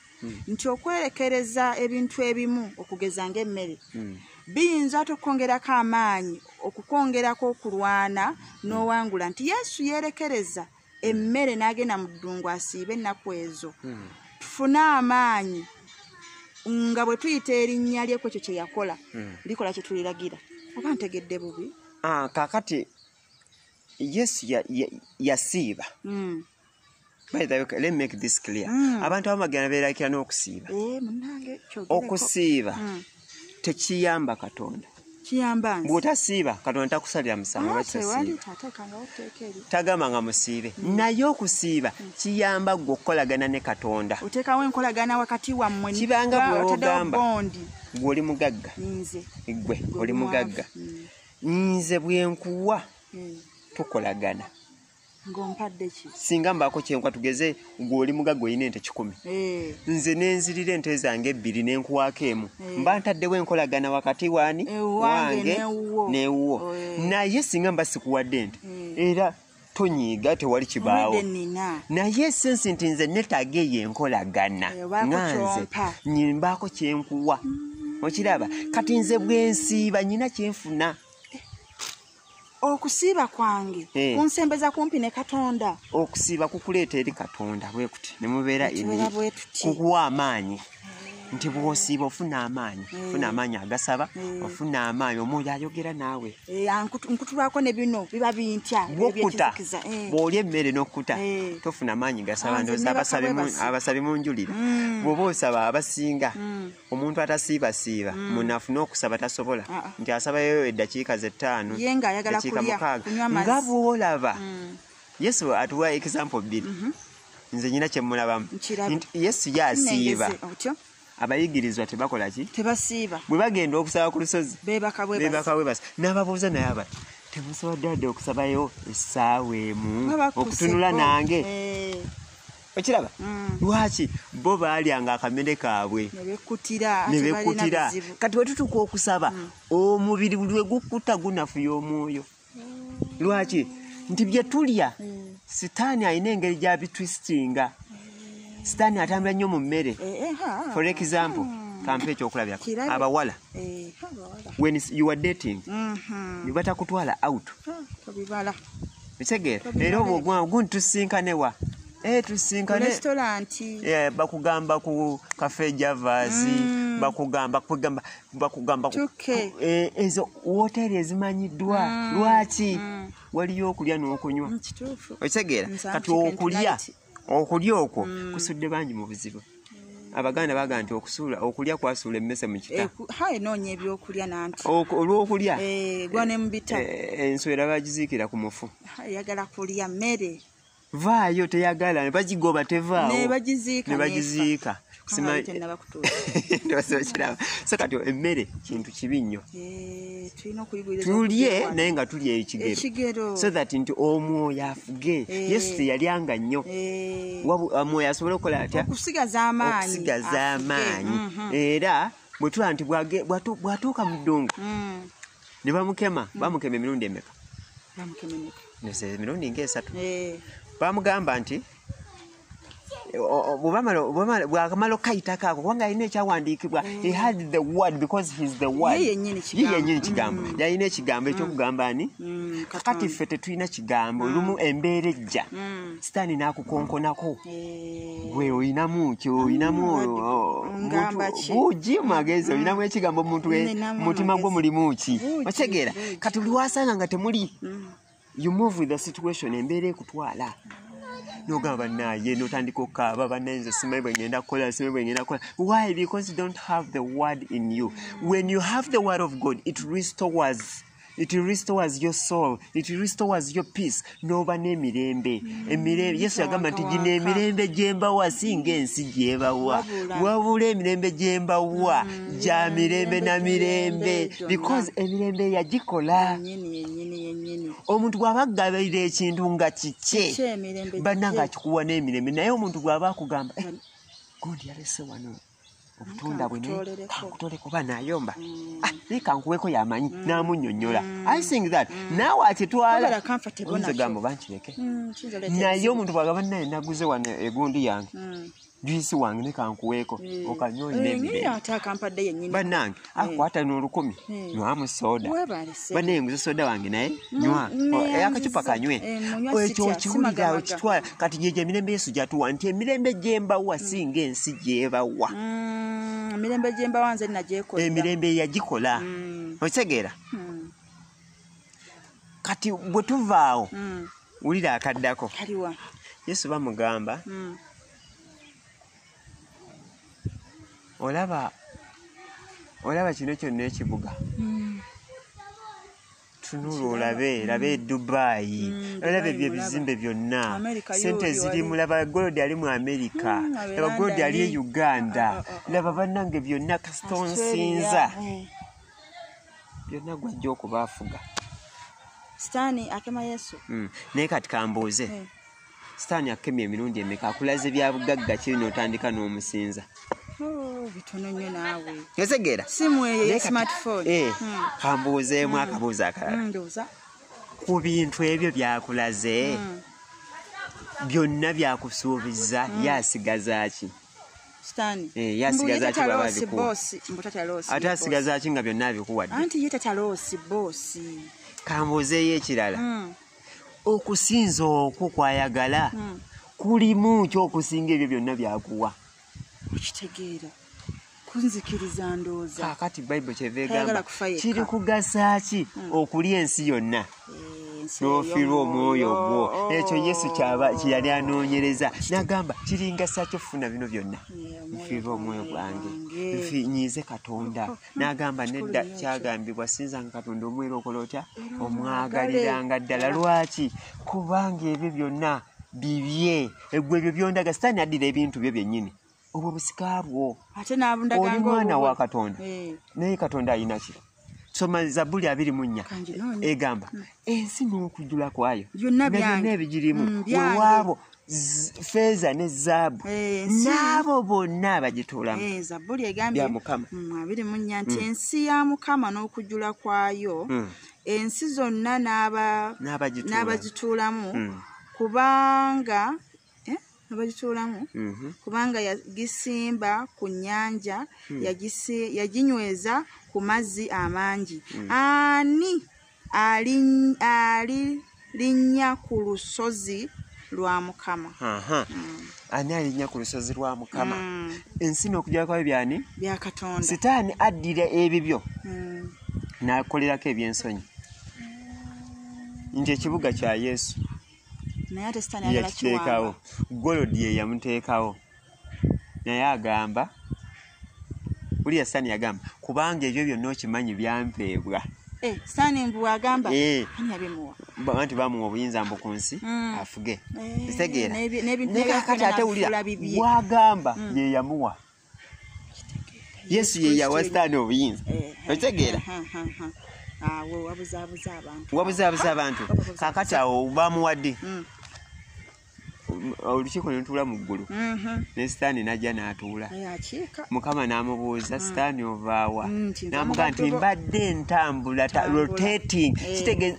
nti okwerekereza ebintu ebimu okugeza ngaemmere biyinza ate okukwongerako amaanyi okukwongerako okulwana n'owangula nti yesu yeerekereza emmere n'agenda mu ddungu asiiba ennaku ezo hmm. tufune amaanyi nga bwe tuyita erinnya lye ku ekyo kye yakola hmm. likola kye tuliragira oba ntegedde bubi ah, kakati yesu yasiiba hmm. abantu abamagenda beerakira n'okusiiba eh, okusiiba tekiyamba katonda bwotasiiba katonda takusalira musangatagamba nga musiibe mm. naye okusiiba mm. kiyamba gwe okukolagana ne katonda kibanga bwogamba gwe oli mugagga gwe oli mugagga mm. nze bwenkuwa tukolagana singa mbaako kyenkwa tugeze gweoli mugaga olina ente kikumi eh. nze nenzirira ente zange ebbiri nenkuwaako emu eh. mba ntaddewo enkolagana wakati waani eh, wange newuwo oh, naye singa mba sikuwadde ente era tonyiiga tewali kibaawo naye esensi nti nze netaaga eyo enkolagana nga nze nyimbaako kyenkuwa mm. okiraba kati nze bwensiiba nyina kyenfuna okusiiba kwange eh. kunsembeza kumpi ne katonda okusiiba kukuleeta eri katonda bwekuti nemubeera kukuwa amaanyi eh. nti bwosiiba ofuna amaanyi eh. ofuna amaanyi agasaba ofuna amaanyi omwoyo ayogera naawe nkutulwako ne bino biba bintya bwokuta bwoli emmere n'okuta tofuna maanyi gasaba ndoza abasabi munjulira mm. bwoba osaba abasinga mm. omuntu atasiibasiiba mm. munafu n'okusaba tasobola ah, ah. nti asabayo eddakiika zettaano dakiika mukaaga nga bwolaba mm. yesu atuwa example bbiri mm-hmm. nze nyina kyemulabamu yesu yasiiba abayigirizwa tebakola ki tebasiiba bwe bagenda okusaba ku lusozi bebakabwebasa n'ababuuza naye aba temusobodde wadde okusabayo essaawa emu okutunula nange eh. okiraba mm. lwaki bo baalyanga akamere kaabwe nebekkutira kati wetutuka okusaba mm. omubiri buli wegukkuta gunafuya omwoyo mm. lwaki nti bye tulya sitaani alina engeri gyabitwistinga sitaani atambula nnyo mu mmere eh, eh, for example hmm. kampa ekyokulabirako abawala eh, when you are dating mm-hmm. nebatakutwala out ah, kitegeera era obwo gwangu gundi tusinkane wa eh, tusinkane eh, bakugamba ku kafe javasi mm. bakugamba kugamba bakugamba eh, ezo woteri ezimanyiddwa mm. lwaki mm. waliyo okulya n'okunywa okitegeera kati okulya okulya okwo mm. kusudde bangi mu buzibu abaganda baga nti okusuula okulya kwasuula emmese mu kita eh, noonya ebyokulya nanti olwokulya eh, gwa ne mubita eh, enswera bagiziikira ku mufu yagala kulya mmere vaayo teyagala bagigoba tevaawo ne bagiziika simanyiokiraba so kati emmere kintu kibi nnyo eh, tulye naye nga tulya ekigero so that nti omwoyo afuge eh. yesu teyalyanga nnyo eh. omwoyo ah, asobole okukola atya okusigaza amaanyi mhm. era bwetuba nti bwatuuka mu ddungu mm. ne bamukema mm. bamukema emirundi emeka emirundi ngaesatu bamugamba nti bwakamala okukayitako ako kubanga alina ekyawandiikibwa he had the word because heis the word yenyini kigambo mm. yalina ekigambo mm. ekyokugamba ani mm, kakati ffe tetulina kigambo lumu embeera ejja sitaani nakukonkonako eh. gwe olinamu ki olinamu bugi magezi olinamu ekigambo omuntu mutima gwo mulimu ki otegeera kati buli wasanga nga temuli you move with the situation embeera ekutwala nogamba banaye notandika okaaba banaye nze simanyi bwengenda kukola simanyi bwengenda kukola why because you don't have the word in you when you have the word of god it restores it restores your soul it restores your peace noba nemirembe mm. emirembe yesu yagamba nti gino emirembe gyembawa singa ensi gyebawa wabula emirembe gyembawa mm. gya mirembe na mirembe because emirembe yagikola omuntu bw'aba agabirira ekintu nga kikye banna nga akikuwa n'emirembe naye omuntu bw'aba akugamba eh, gundi yalese wano obutunda bwe nankutole kuba nayomba mm. ah, naye kankuweko yamanyi mm. namunyonyola mm. i think that naawe akitwalagambo bankireke naye omuntu bwagaba naye naguze wano egundi yange juyisi wange ne kankuweeko eh. okanyonyataakampadde eh, yenyini bannange eh. akwata ah, n'olukumi nywamu sooda banaye nguze sooda wange naye mm, nywa mm, oh, eh, akacupa kanywe oh, ekyo okiwulira okitwala kati gyejo emirembe yesu gyatuwa nti emirembe gyembawa mm. singa ensi gyebawa emirembe gyembawa nze nagyekola emirembe yagikola okitegeera kati bwe tuvaawo mm. wulira akaddako kaliwa yesu bamugamba mm. olaba olaba kino kyonna ekibuga mm. tunula olabe labe mm. dubayi mm, olabe ebyo ebizimbe byonna sente zirimu laba golodi ali mu amerika mm, laba golodi ali e uganda ah, ah, ah, laba bannange byonna kasita onsinza byonna gwajja okuba afuga sitaani akema yesu mm. naye kati kambuuze mm. sitaani akemya emirundi emeka akulaze bya bugagga kiri n'otandika n'omusinza oh, bitono nyo naawe otegeera simu eyo ya smartphone eh, hmm. kambuuzeemu hmm. akabuuza akalala hmm, ku bintu ebyo byakulaze byonna byakusuubiza ye asigaza ki sitani eh, yasigaza ki baba abikuwa ate asigaza ki nga byonna abikuwadde anti ye tataloosi boosi kambuuzeeyo ekirala hmm. okusinza okwo kwayagala hmm. kulimu kyokusinga ebyo byonna byakuwa okitegeera kunzikiriza ndooza kakati bayibuli kyeva egamba kiri kugasa ki hmm. okulya ensi yonna n'ofiirwa omwoyo ogwo ekyo yesu kyaba kyeyali anoonyereza nagamba kiringa sakyo funa bino byonna nfiirwa omwoyo gwange nfinyiize katonda nagamba nedda kyagambibwa sinzanga katonda omwera okola otya omwagaliranga ddala lwaki kubanga ebyo byonna bibye egwe ebyo byondaga sitaani addira ebintu byo byennyini obwo busika bwo ate nabundagaoli mwana wa katonda eh. naye katonda ayinaki soma zabuli abiri mu nnya egamba hmm. ensi n'okujula kwayo nabyonna ebigirimu hmm, wewaabo feeza ne zaabu eh, n'abo bonna abagituulamu eh, zabuli egambye mukama hmm, abiri mu nnya nti ensi ya mukama n'okujula kwayo ensi zonna n'abagituulamu kubanga eh, abagituulamu mhm. kubanga yagisimba ku nnyanja hmm. yaginyweza ku mazzi amangi hmm. ani alirinnya ku lusozi lwa mukama hmm. ani alinya ku lusozi lwa mukama ensi n'okujja kwayo byani byakatonda sitaani addira ebibyo n'akolerako ebyensonyi nti ekibuga kya yesu naye ate sitaani ayagala yakiteekawo kiwamba golodi ye yamuteekawo naye agamba uliya sitaani yagamba kubanga ebyo byonna okimanyi byampeebwa Eh, sitaani mbu agamba Eh. ani yabimuwa Ba- anti bamuwa obuyinza mbu ku nsi Mm. afuge Eh, kitegeera n'ebi- n'ebintu Naye kakati by'akola ate wulira n'afuula bibye. wagamba Mm. ye yamuwa yesu ye yawa sitaani obuyinza Eh, okitegeera ha, ha, ha. awo wabuzaabuza abantu wabuzaabuza abantu Wabuzaabuza. kakati awo bamuwadde Mm, olukiiko nelutuula mu ggulu mhm. ne sitaani najja n'atuula Naye akiika mukama n'amubuuza sitaani ovaawa Mm, nti nva mu n'amugaa nti batobo. mbadde ntambula ta- Tambula. rotating Eh. kitegeeza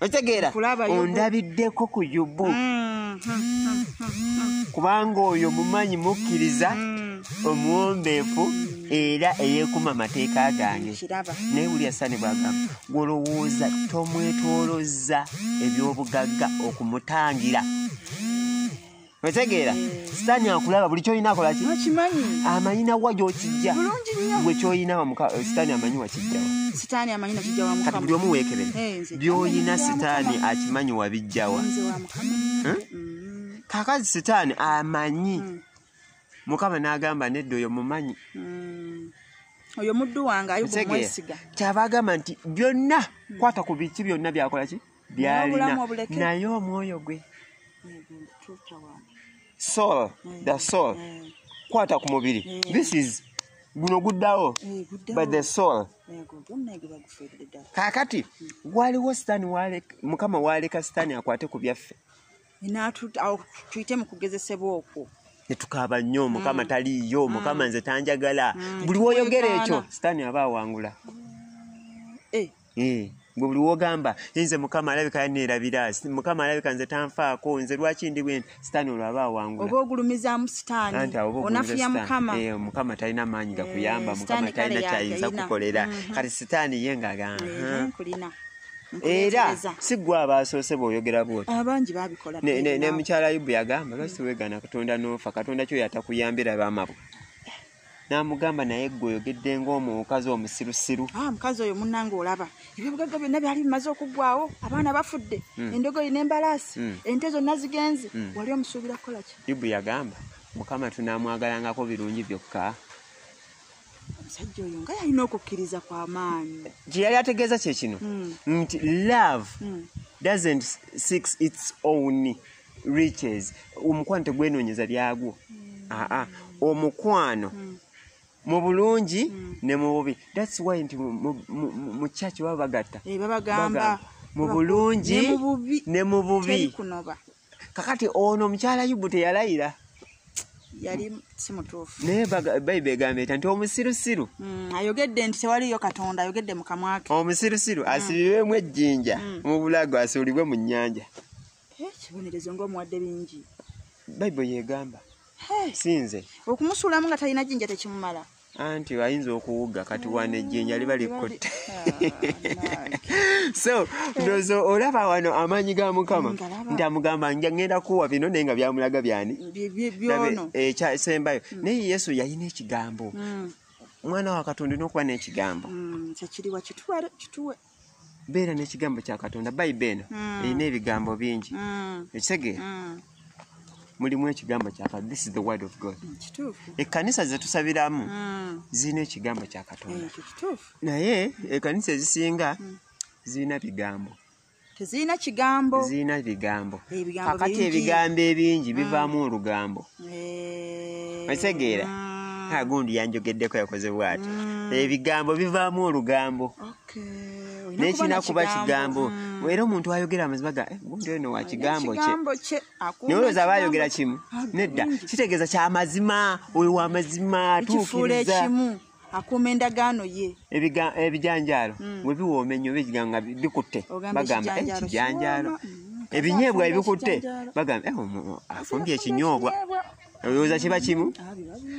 okitegeera ondabiddeko ku yubu mm, mm, mm, kubanga oyo mumanyi mukkiriza omuwombeefu era eyekuma amateeka gange naye buli asani bwagamba gwolowooza tomwetolozza ebyobugagga okumutangira otegeera sitaani akulaba buli kyoyina akola ki amanyi nawa gyokijja gwe kyoyina sitaani amanyi wakijjawakati buli omu weekebere byoyina sitaani akimanyi wabijjawa hmm? kakazi sitaani amanyi hmm. mukama n'agamba nedda oyo mumanyi hmm. oyo muddu wange ayogomwesiga kyaba agamba nti byonna kwata ku biki byonna byakola ki byalina naye omwoyo gwe soul mm. the soul mm. kwata ku mubiri mm. this is guno guddawo by the soul kakati waliwo sitani mukama waaleka sitani akwate ku byaffe tuyite mu kugezesebwa okwo netukaaba nnyo mukama taliiyo mukama nze tanjagala buli woyogera ekyo sitani aba awangula eh. mm. buli wogamba nze mukama alabika yaneerabira mukama alabika nze tanfaako nze lwaki ndi bwe sitaani olwo aba awangula oba ogulumizaamu sitaani onafuya mukama eh, mukama talina maanyi eh, gakuyamba mukama talina kyayinza kukolera mm-hmm. kati sitaani ye ngaga era si gwe abaasoose bweoyogera bwotine mukyala yubu yagamba lwaki wegana katonda noofa katonda kyoyo atakuyambira bamabwe n'amugamba naye gwe oyogedde ngaomukazi omusirusiru ah, mukazi oyo munange olaba ebyobugagga byonna byali bimaze okuggwawo abaana bafudde hmm. endogoyi n'embalaasi hmm. ente zonna zigenze hmm. wali omusuubira kukola ki yubu yagamba mukama tunaamwagalangako birungi byokka omusajja oyo nga yalina okukkiriza kwa maanyi gye yali ategeeza kye kino nti love doesn't six its own riches omukwano tegwenonyeza byagwo mm. aa ah, ah. omukwano mm. mu bulungi mm. ne mu bubi thats why nti mu church baba bagatta eh, babagamba mu bulungi ne mu bubi kakati ono omukyala yubu teyalayira yali simutuufu naye bayiba egamba eta nti omusirusiru mm, ayogedde nti tewaliyo katonda ayogedde mukamwake omusirusiru mm. asibibwemu ejjinja mm. mu bulago asuulibwe mu nnyanja ekibonerezo eh, ngaomuwadde bingi bayibuli yegamba sinze okumusuulamu nga talina jinja tekimumala anti ayinza okuwuga kati wano ejjinja liba likkutte ah, so ndozo olaba wano amaanyi ga mukama nti amugamba ngenda kuwa bino naye nga byamulaga byani ekyasembayo eh, hmm. naye yesu yalina ekigambo hmm. mwana wa katonda olina okuba n'ekigambo hmm, kyekiriwa kituwe beera n'ekigambo kya katonda bayibe eno mm. erina ebigambo bingi ekisege mm. mm. mulimu ekigambo kyakatonda this is the word of god ekkanisa zetusabiramu zirina ekigambo kya katonda naye ekkanisa ezisinga zirina bigambo tezirina kigambo zirina bigambo kakati ebigambo ebingi bivaamu olugambo Eh, okitegeera mm. ha gundi yanjogeddeko yakoze bwati mm. ebigambo bivaamu olugambo nekirina kuba kigambo mm. era omuntu ayogera amazima ga eh, gundi oyo nowa kigambo kye naye olwoza aba ayogera kimu nedda kitegeeza kyamazima oyo wamazima tuukiriza akuuma endagaano ye ebijanjaalo mm. bwe biwooma ennyo biga nga bikutte bagamba eh, ekijanjaalo mm. ebinyeebwa ebikutte bagamba eh, afumbye ekinyoobwa olowooza kiba kimu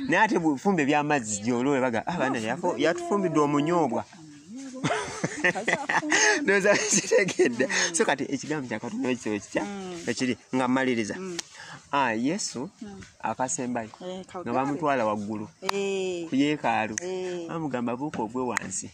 naye ate bufumba ebyamazzi gyolole baga abana ah, yatufumbidde omunyoobwa ndoza kitegedde so kati ekigambo kyakatonda ekisebo kitya mm. ekiri nga maliriza ah, yesu akasembayo eh, nga bamutwala waggulu eh. ku yeekaalu eh. bamugamba buuka ogwe wansi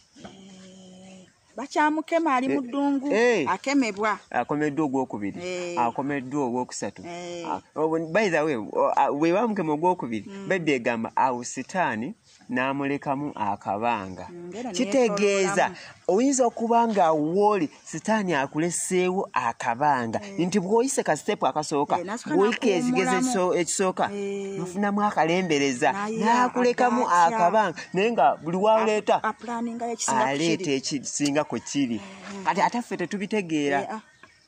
bakyamukema ali mu ddungu akemebwa akomeddwa ogwokubiri akomeddwa ogwokusatu ah, oh, by the way oh, ah, bwe bamukema ogwokubiri hmm. bebbi egamba awo sitaani n'amulekamu akabanga mm, kitegeeza oyinza okuba nga wooli sitaani akuleseewo akabanga eh. nti bw'oyise ka sitepu akasooka eh, bw'oyika ekigezo ekisooka eh. nofunamu akalembereza n'akulekamu akabanga naye nga buli waleeta aleeta ekisinga ku kiri kati ate ffe tetubitegeera ah.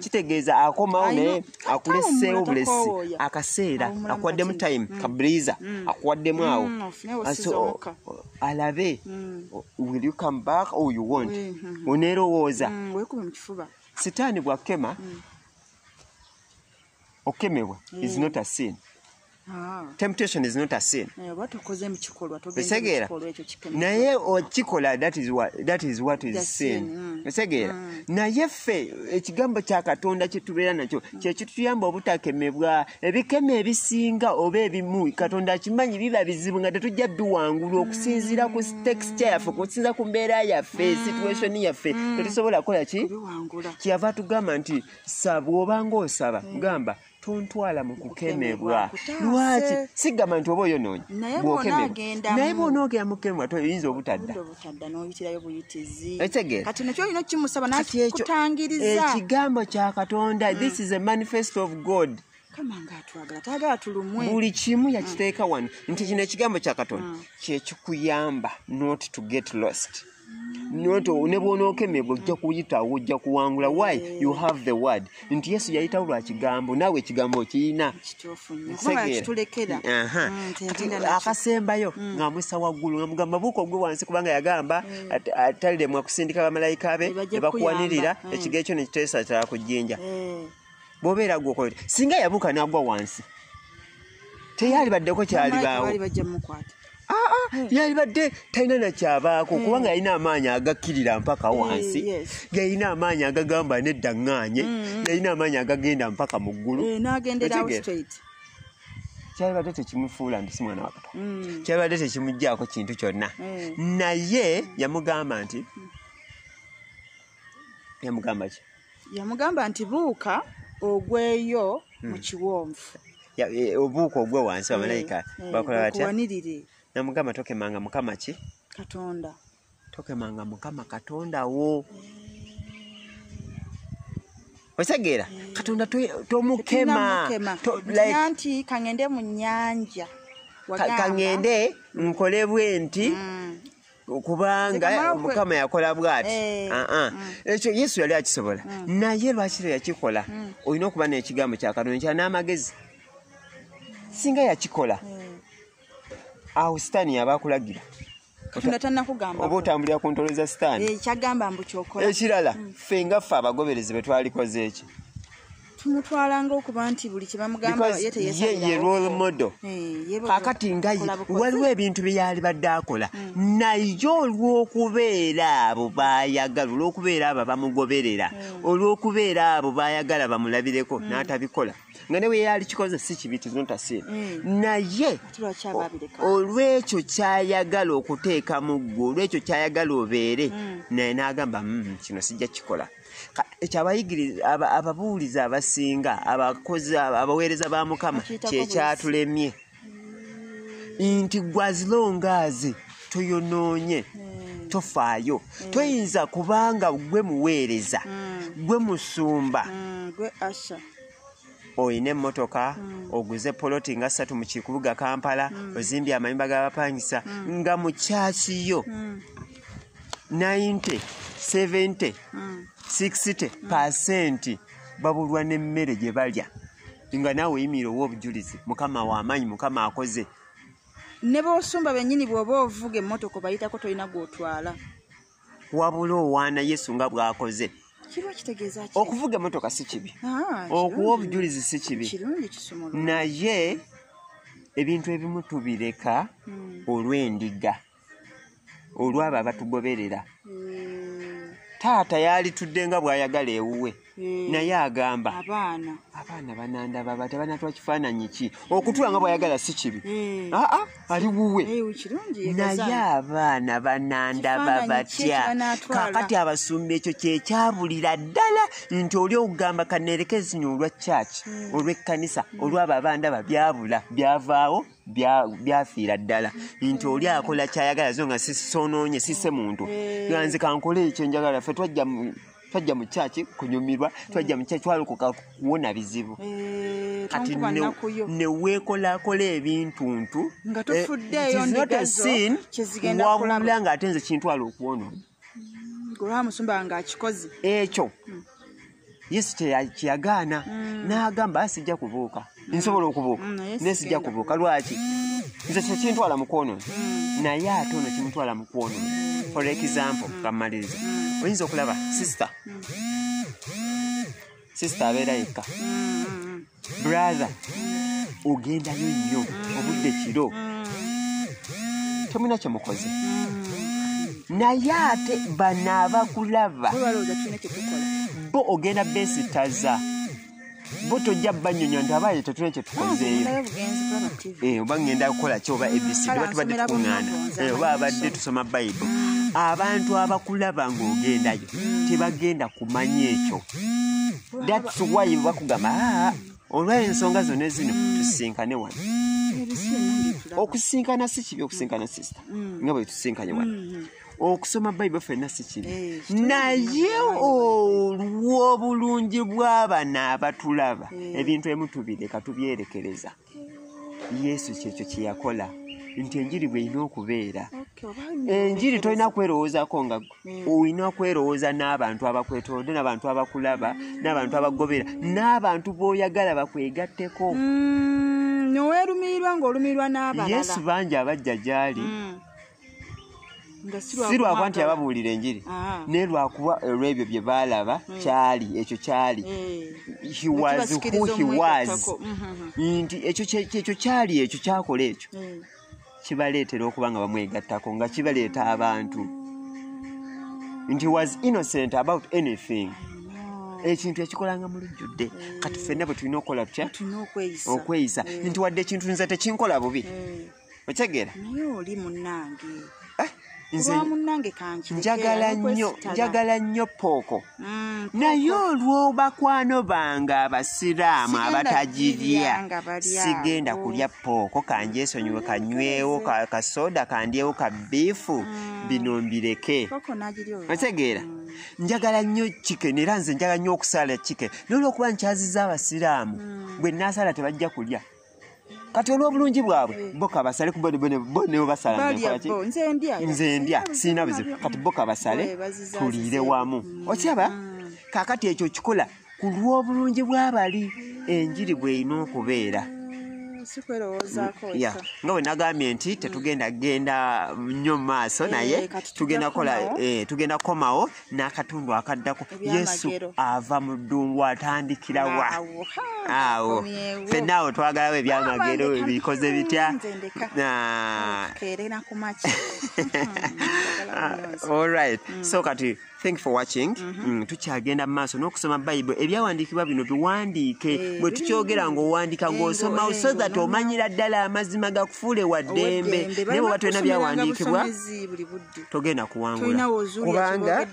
kitegeeza akomawo naye akuleseewo obulesi akaseera akuwaddemu time mm. kabriza mm. akuwaddemu mm, awo alabe will you come back or you wont mm-hmm. oneerowooza sitaani bwakema okukemebwa is not a sin Ah. temptation is not a sin eh, otegeera naye okikola that is what, that is, what is sin mm. otegeera mm. naye ffe ekigambo kya katonda kyetubeera nakyo mm. kyekituyamba obutakemebwa ebikema ebisinga oba ebimu katonda akimanyi biba bizibu nga tetujja biwangula mm. okusinziira ku texture yaffe okusinziira ku mbeera yaffe mm. situation yaffe mm. tetusobola kukola ki kyeyava tugamba nti sa bwobanga osaba mm. gamba tontwala mu kukemebwa lwaki sigamba nti oba oyonoonyi naye bwonoogera mu kukemebwa toyinza obutadda ekigambo kya katonda mm. this is a manifesto of god buli kimu mm. yakiteeka wano nti kino ekigambo kya katonda mm. kyekikuyamba not to get lost nyoto ne bwonookemebwa ojja kuyitawo ojja kuwangula why you have the word nti yesu yayitawo lwa kigambo naawe ekigambo okirina mm, akasembayo mm. ng'amwisa waggulu nga mugamba buuka ogwe wansi kubanga yagamba mm. ataliremwa kusindika bamalayika be ne bakuwanirira ekigo ekyo ne kiteesa kyala ku jjinja eh. bwobeera gwokola singa yabuuka nagwa wansi teyalibaddeko kyalibaawo ah, ah, hmm. yalibadde talina nakyabaako hmm. kubanga yalina amaanyi agakkirira mpaka hmm, wansi yalina amaanyi agagamba nedda ŋŋaanye yalina amaanyi agagenda mpaka mu ggulu eh, kyalibadde tekimufuula nti si mwana wa katonda kyalibadde tekimuggyako kintu kyonna naye yamugamba nti yamugamba ki yamugamba nti buuka ogweyo hmm. mu kiwonvu e, obuuka ogwe wansi bamalayika eh, eh, bakola batya namugamba tokemanga mukama ki katonda tokemanga mukama katonda wo otegeera eh. katonda tomukema nti kangende mu nyanja kangende nkole bwenti mm. kubanga mukama yakola bwati eh. ah, ah. mm. ekyo yesu yali akisobola mm. naye lwaki lwe yakikola mm. olina okuba nekigambo kyakatonda kya n'amagezi singa yakikola eh. awo sitaani yaba akulagira oba otambulira ku ntolo za sitaani eh, ekirala ffe nga ffe abagoberezi bwe twalikoze eki tumutwala ngaokuba nti buli kyebamugambayeteyeyerolemodo eh, kakati nga ye waliwo ebintu byeyali badde akola hmm. naye olwokubeera abo bayagala olwokubeera abo bamugoberera hmm. olwokubeera abo bayagala bamulabireko hmm. n'atabikola nga newe yali kikoze si kibi tizuntasire mm. naye olwekyo kyayagala okuteeka mu ggwe olwekyo kyayagala obeere mm. naye n'agamba mm, kino sijja kikola ekyo abayigiriza ababuulizi abasinga abakozi abaweereza ba mukama kyekyatulemye nti gwazilongaazi tuyonoonye hmm. tofaayo hmm. toyinza kubanga gwe muweereza hmm. gwe musumba gwe asha olina emmotoka mm. oguze poloti nga ssatu mu kikubuga kampala mm. ozimbye amayumba g'abapangisa mm. nga mu kyaki yo 90 70 60 pasenti babulwa n'emmere gye balya nga naawe oyimira owa obujulizi mukama w'amaanyi mukama akoze ne bosumba bennyini bw'oba ovuga emmotoka obayitako tolina gw'otwala wabula owaana yesu nga bw'akoze okuvuga emotoka si kibi ah, okuwa obujulizi si kibi naye ebintu ebimu tubireka hmm. olw'endiga olw'abo abatugoberera hmm. taata yalitudde nga bw'ayagala ewuwe Eh, naye agamba abaana abaana banandaba bati banatwa kifaananyi ki okutula nga bwayagala si kibi eh. aa ah, ah, ali wuwe eh, naye abaana banandaba batya kakati abasumba ekyo kyekyabulira ddala nti oli okugamba kanerekezinya olwa kyaki hmm. olwekkanisa hmm. olwabo abandaba byabula byavaawo byafiira ddala nti oli akola kyayagala zo nga sisonoonye sise muntu ganzi kankole ekyo njagala fe twajja twajja mu kyaki kunyumirwa twajja mu kyaki twalokoka kuwona bizibu eh, kati neweekolakola ebintuntu wawulula ng'ate nze kintwala okuwonona ekyo hmm. yesu kyeyagaana hmm. n'agamba asijja kubuuka nsobola okubuuka mm, naye sijja kubuuka lwaki nze kyekintwala mukwonono mm. naye ate ono kimutwala mukwonono for example kamaliriza mm. oyinza okulaba sister sister abeera yekka brother ogendayo nnyo obudde kiro temulina kyemukoze naye ate bano abakulaba bo ogenda besitaza bo tojja banyonyo nti abaye tetulina kyetukozeeyo eh, oba ngenda kukola ki oba abc oba tubadde tukuŋŋaana eh, oba abadde tusoma bayibuli abantu abakulaba ng'ogendayo tebagenda kumanya ekyo thats why bakugamba ah, olw'ensonga zonna zino tusisinkane wano okusisinkana si kibi okusisinkana sisita mm. nga bwe tusisinkanye wano mm-hmm. okusoma bayibuli fenna si kibi eh, naye olw'obulungi bw'abana abatulaba eh. ebintu emu tubireka tubyerekereza yesu kyekyo kye yakola nti enjiri bwelina okubeera enjiri tolina kwerowoozako nga hmm. olina kwerowooza n'abantu abakwetolode n'abantu abakulaba hmm. n'abantu abakugobera n'abantu b'oyagala bakwegatteko hmm, noweerumiirwa ng'olumiirwa n'abalala yesu bangi abajja gy'ali si lwakuba nti yababuulira enjiri ah. naye lwakuba olwebyo bye baalaba hmm. kyali ekyo kyali nti ekyo kyali ekyo kyakola ekyo hmm. kibaleetera okuba nga bamwegattako nga kibaleeta abantu nti was innocent about anything ekintu yakikolanga mu lujjudde kati fenna bwe tulina okukola tutya okweyisa nti wadde ekintu nze tekinkola bubi hmm. okitegera naye oli munange eh, njagala nnyo njagala nnyo pooko mm, naye olw'obakwano bange abasiraamu abatagirya sigenda kulya pooko kanjesonyiwe kanywewo kasoda kandyewo ka biifu mm. bino mbireke otegeera mm. njagala nnyo chicken era nze njagala nnyo okusaala chicken nolwokuba nkyaziza abasiraamu bwe nasaala tebajja kulya kati olw'obulungi bwabwe eh. bo kabasale ku bo nebo basala nze ndya sirina buzibu kati bo kabasale eh, tuliire wamu mm. okiraba mm. kakati ekyo kikola ku lw'obulungi bw'abali enjiri bw'erina okubeera nga bwe nagambye nti tetugenda genda nnyo mu maaso eh, naye tugenda kukomawo n'akatundu akaddako yesu ava mu ddungu atandikira wa awo fenna awo twagalawo ebyamagero bikoze bitya olright ah. mm. so kati thank for watching mm-hmm. mm, tukyagenda mu maaso n'okusoma bayibuli ebyawandiikibwa bino biwandiike eh, bwe tukyogera ng'owandiika ng'osoma so that omanyira ddala amazima gakufuule wa ddembe naye bwe batulina byawandiikibwa togenda kuwangula kubanga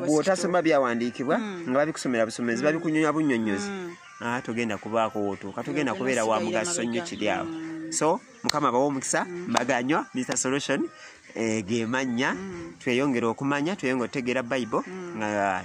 bwotasoma byawandiikibwa hmm. nga babikusomera busomezi hmm. babikunyonya bunyonyozi hmm. ah, togenda kubaako wotuuka togenda kubeera wa mugaso nnyo kiri awo so mukama bawa omukisa mbaganywa mr solution eh, gemannya tweyongere okumanya tweyongere otegeera bible nga